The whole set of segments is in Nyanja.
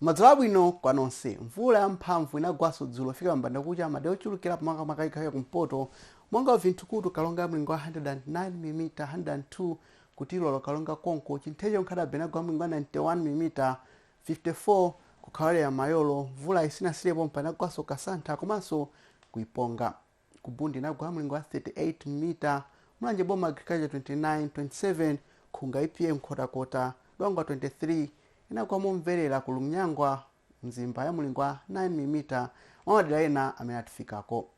madzulo abwino kwa nonse mvula yamphamvu inagwanso dzulo kufika mbanda kucha madera ochulukirapo makamaka chigawo cha kumpoto monga vinthukutu karonga ya mlingo wa 109 mm 102 ku tilora karonga konko chintheche nkhata bay inagwa mlingo wa 91 mm 54 kukhawalera mayolo mvulayi sinasiyire pompa inagwanso kasantha komanso ku iponga ku bundi inagwa mlingo wa 38 mm mulanje boma agriculture 29 27 nkhunga epa nkhotakota dwangwa 23 inagwa momverera ku lunyangwa mzimba ya mlingo wa 9 mm mwa madera ena amene atifikako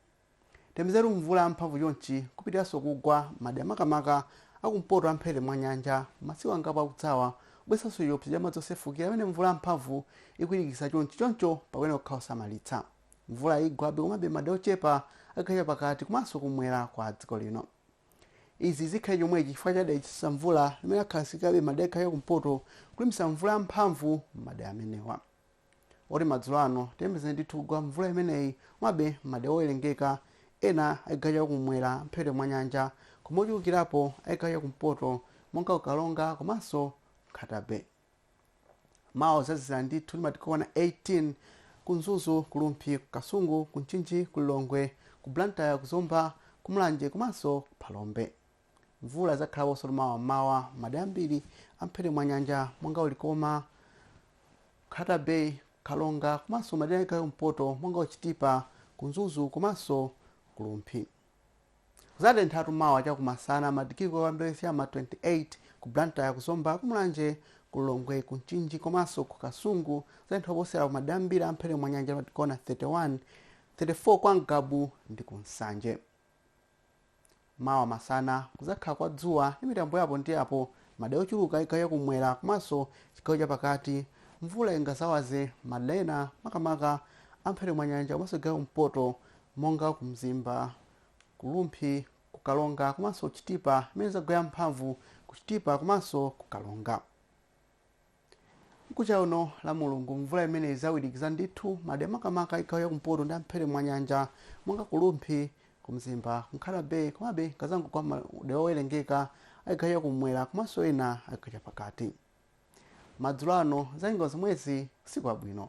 tiyembekezere mvula yamphamvu chonchi kupitiranso kugwa madera makamaka akumpoto a mphepete mwa nyanja masiku angapo akudzawa kubweretsanso chiopsezo cha madzi osefukira pamene mvula yamphamvu ikuwirikiza chonchi choncho pakuyenera kukhala osamalitsa Mvula igwabe komabe madera ochepa a chigawo chapakati komanso kumwera kwa dziko lino. Izi zikhale chomwechi chifukwa cha dera lodzetsa mvula limene lakhazikikabe madera a chigawo cha kumpoto kulimbisa mvula ya mphamvu m'madera amenewa. Moti madzulo ano tiyembekezere ndithu kugwa mvula imeneyi komabe madera owerengeka ena a chigawo cha kumwera mphepete mwa nyanja koma ochulukirapo a chigawo cha kumpoto monga ku Karonga komanso Nkhata Bay. mawa kuzazizira ndithu ndi madigiri okwana 18 ku mzuzu ku rumphi ku kasungu ku mchinji ku lilongwe ku blantyre ku zomba ku mulanje komanso ku phalombe mvula izakhalaponso mawa m'mawa madera ambiri a mphepete mwa nyanja monga ku likoma nkhata bay karonga komanso madera a chigawo cha kumpoto monga ku chitipa ku mzuzu komanso ku rumphi Kuzatenthatu mawa chakumasana, madigiri okwana m'ma 28, ku Blantyre, ku Zomba, ku Mulanje, ku Lilongwe, ku Mchinji komaso ku Kasungu kuzatentha koposera ku madera ambiri a mphepete mwa nyanja madigiri okwana 31, 34 kwa Ngabu ndi ku Nsanje. Mawa masana kuzakhala kwa dzuwa ndi mitambo ya apo ndi apo madera ochuluka chigawo cha kumwera komaso chigawo cha pakati. Mvula ingazawaze madera ena makamaka a mphepete mwa nyanja komaso chigawo cha kumpoto monga ku Mzimba, ku Rumphi, ku Karonga komanso Chitipa imene izagwe ya mphamvu ku Chitipa komanso ku Karonga. Mkucha uno Lamulungu mvula imene izawirikiza ndithu madera makamaka chigawo cha kumpoto ndi a mphepete mwa nyanja monga ku Rumphi, ku Mzimba, ku Nkhata Bay komabe ikazangogwa madera owerengeka a chigawo cha kumwera komanso ena a chigawo cha pakati. Madzulo ano zanyengo zomwezi usiku wabwino.